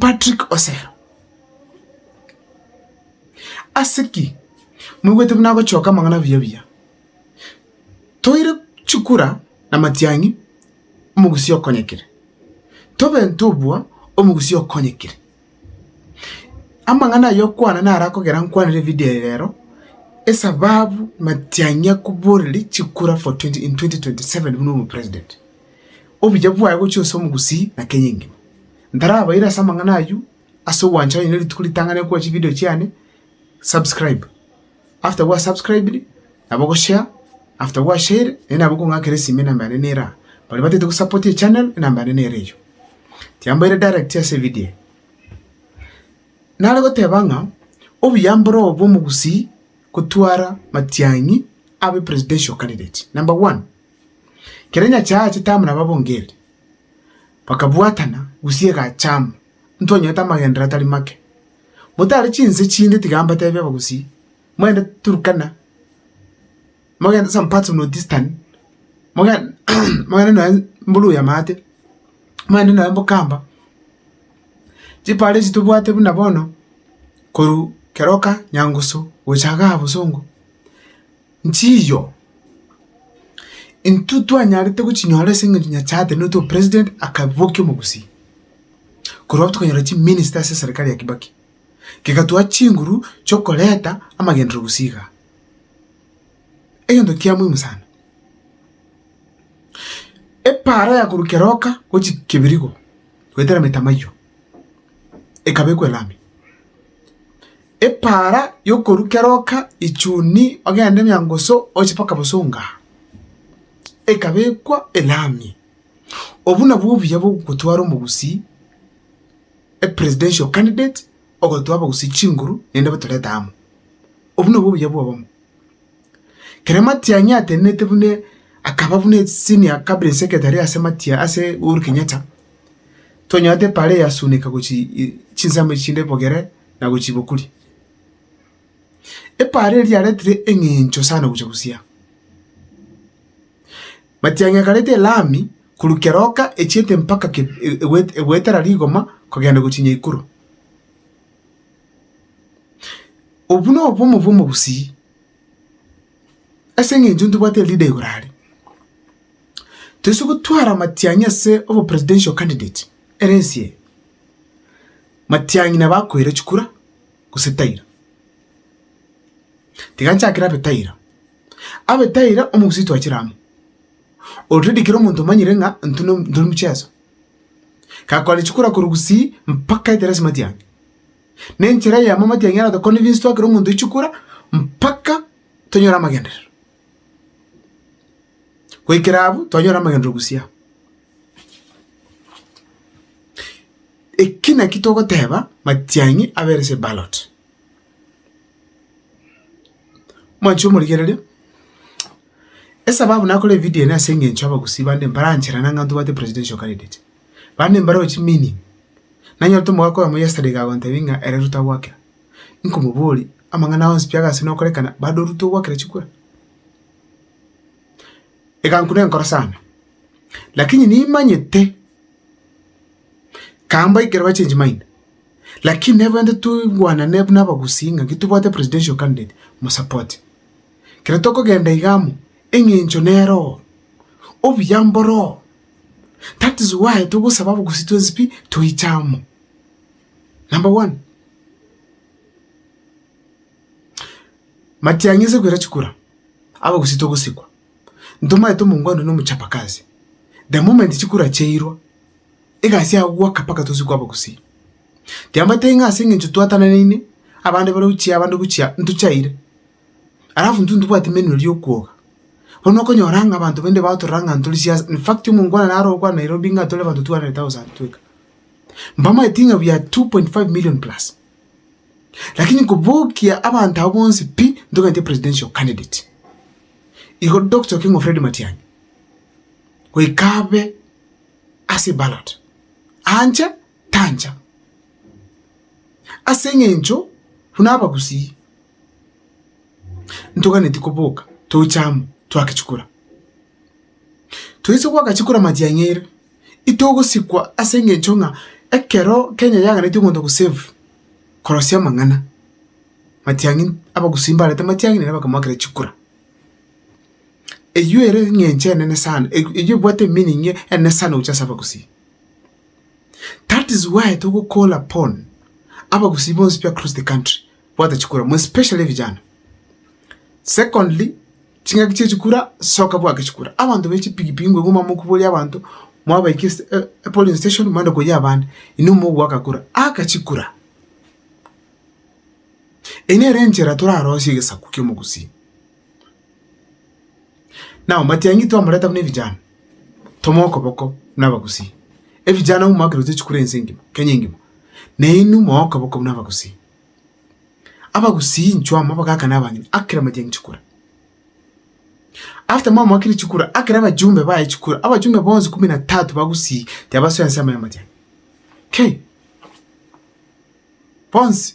Patrick Osero, ase ki moigwete buna agochioka amang'ana abuya buya? Toire chikura na matiang'i, omogusia okonyekire. Tobe ntobua, omogusia okonyekire. Amang'ana ayio okwana naro akogera nkwanere evideo eye rero, esababu matiang'i akoboreria chikura for twenty in twenty twenty seven buna obopresident. Obuya bwaye gochia gose omogusii na Kenya engima. Ntarabaira ase amang'ana ayio, ase ogwancha onye ne rituko ritang'ani gokorwa chivideo chiane, subscribe. After gwa subscribed, nabo go share, after gwa shared, naende nabo okong'akera esimi enamba yane nere aa. Baria batagete go support echannel, enamba yane nere eyio. Tiambaire direct ase evidio eye. Nare goteba ng'a, obuya mboro obo bwa omogusii gotwara matiang'i abe presidential candidate, number one. Ekero enyache yachete amo nabo abongereri, bakabwatana gusii egacha amo, ntonyete amagenderero atari make. Motare chinse chinde tiga mbatebie abagusii, moende Turkana, mogende some parts of North Eastern, mogen mogende nonye mbu Luhya maate, mogende nonye mbu Kamba, chiparo echi tobwate buna bono, korwa keroka, nyangusu, gocha iga bosongo. Nchiyo, intwe twanyarete gochinyora ase eng'encho Nyasaye atenenetie opresident akabokia omogusii. Korwa tokanyora chiminista ase eserikari ya Kibaki, kegatooa chinguru chi'okoreta amagenderero gusii igaa. Egento kia muhimu sana. Epaara yakorwa Keroka gochia Kebirigo goetera Metamaiywa. ekabekwa elami. Epaara y'okorwa keroka ichuni ogende nyangusu oche mpaka Busunga, ekabekwa elami. Obwo nabwo obuya bw'ogotwara omogusii, a presidential candidate, ogotwara abagusii chinguru naende batorete amo. Obwo nabwo obuya bw'obomo. Ekero matiang'i atenenete buna akaba buna esenior cabinet secretary ase matia ase Uhuru Kenyatta, tonyora epaara eyasuneka gochia chinsemo echi chinde bogere na gochia bokuri. Epaara eria yaretire eng'encho sana gochia gosiaa. Matiang'i akareta elami korwa keroka echiete mpaka egwetera rigoma kogenda gochia Nyaikuru. Obwo nobomo bw'omogusii, ase eng'encho ntobwate elida igoro aria. Toise gotwara matiang'i ase obo presidential candidate ere ensi eye, matiang'i nabo akoira chikura gose taira. Tiga nchakere abe taira, abe taira omogusii twachire amo, already kera omonto omanyire ng'a intwe ntwe mcheso. gakore chikura korwa gusii mpaka etere ase matiang'e. Na enchera eyemo amatiang'e aratokonire inse twakere omonto chikura mpaka tonyore amagenderero. Goikera abwo twanyora amagenderero gusii aa. Eki naki togoteba matiang'e abere ase eballot. Mwanche omorigereria? Esababu nakora evidio eye ase eng'encho abagusii bande mparancherana ng'a ntobwate presidential candidate, bande mbaroo chimining, nanyorete omogaka oyomo yesterday iga agontebia ng'a ere Ruto agwakera, nkomoboria, amang'ana onsi pi agase nokorekana bado Ruto ogwakera chikura? Egankuna enkoro sana, lakini nimanyete, kaambaikera bachenchi maina. Lakini nebainte toigwanane buna abagusii ng'a titobwate presidential candidate mosupport. Kera tokogenda iga amo, eng'encho nere oo, obuya mboroo. That is why togosaba abagusii twensi pi toiche amo. Number one, matiang'i ase koira chikura, abagusii togosikwa, ntomanyete omongwana na omochapakazi. The moment chikura chiairwa. Egasi ya goaka mpaka tosie kwaba gusii. Tiamanyete ng'a ase engencho twatananaine abande bare gochia abande gochia ntochaire, alafu intwe ntibwati menure ri'okwoga. Bono okonyora ng'a abanto baria batorora ng'a ntore siasi, in fact omongwana naro ogokwana Nairobi ng'a tore abanto 200,000 tweka. Mbamaeti ng'a we are 2.5 million plus. Lakini kobokia abanto abwo bonsi pi ntogaitie presidential candidate. Igo Doctor Okengo Fred Matiang'i goika abe. Asibarote, anche tancha, ase engencho buna abagusii ntoganeti koboka toche amo twake chikura. Toise goaka chikura matiang'eire, itogosikwa ase engencho ng'a ekero Kenya yaganetie omonto gosave korosia amang'ana, matiang'i abagusii mbarete matiang'i nere bakamoakera chikura. Eyio ere eng'encho enene sana, eyio ebwate meaning enene sana gochia ase abagusii. That is why togo call upon abagusii bonsi pi across the country bwate chikura more especially vijana. Secondly, ching'aki chia chikura soka bwake chikura. Abanto ba echipigipigi ngwaigwa momokuboria abanto mwabaika ase epolice station moende koyia abande, inwe mogoaka kura. Aka chikura. Eyio nere enchera torarosie egesaku kia omogusii. Nao matiang'i twamoreta buna ebijana, tomoe okoboko buna abagusii. Ebijana abwo mwakerutire chikura ense engima, Kenya engima, na inwe moe okoboko buna abagusii. Abagusii inchuo amo abagaka na abanyene aa kera matiang'i chikura. After mwamoakire chikura, aa kera abajumbe baye chikura, abajumbe bonsi kumi na tatu ba Gusii tiabasoa ensemo ya matiang'i. Kei! Bonsi.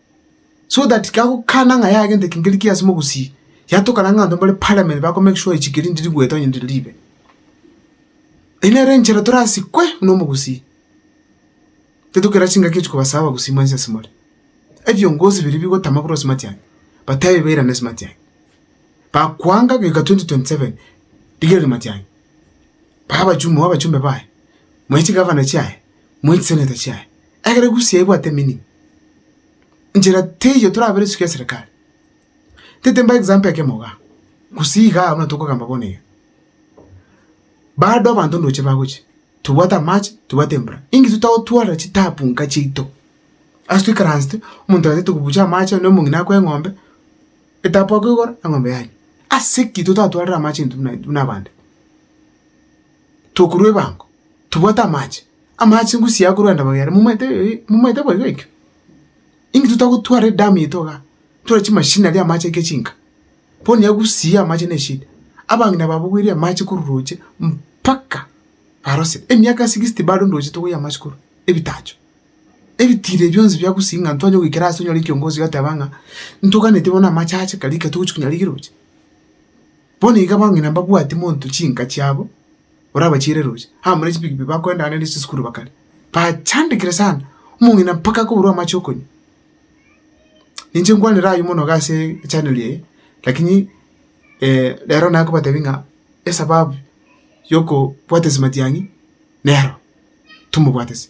so that kagokana ng'a yagenta ekengeri kiaye ase mogusii, yatokana ng'a abanto bare parliament bako make sure echikeri ndiri goeta onye ndiri ribe. Eye nere enchera torasikwe buna omogusii, titokera chingaki echi kobasa abagusii mwensi ase more. Ebiongozi biria bigotama korwa ase matiang'a but aye bairane ase matiang'a, bakoanga goika twenty twenty seven rigereria matiang'a, bae abachumbe bae, manye chigavana chiaye, manye chiseneta chiaye. Ekero egusi yaibwate emining, nchera teiyo torabera esiko ya serikali. Ntete mbae example ekemo iga, gusii igaa buna tokogamba bono iga, bado abanto ndoche bagochia, tobwate amache, tobwate embura, inki totagotwarera chitabu nka chiaito? Ase toikaransete, omonto atagete kobucha amache onde omong'ina akwa eng'ombe, etapu akoigora, eng'ombe yanywa. Ase ki totatwarire amache intwe buna buna abande? Tokorwa ebango, tobwate amache, amache ngusii aya akorwa endamwamu yane, momaete eh, momaete boigo ekio? Inki totagotwara edamu yaito igaa, tore chimashini aria amache aike chinka? Bono ya gusii amache ne eshida. Abang'ina babogweire amache korwa roche mpaka barosire, emiaka sixty bado ndoche togoyia amache korwa, ebitacho, ebitiri ebio bionsi bia gusii ng'a ntwanye goikera ase onyore ekiongozi ogoteba ng'a, ntoganeti bono amache ache kare ekero togochi konya rigiroche. Bono iga abang'ina mbabwatie monto chinka chiabo, orabachiere roche. Abamura chipigipigi bakoendana nere chisukuru bakare, bachandekire sana, omong'ina mpaka akoborwa amache okonywa. Ninche nkwanera ayio mono iga ase echanel eye, lakini rero naye akobatebi ng'a esababu ya okobwatesa matiang'i nero, tomobwatesa.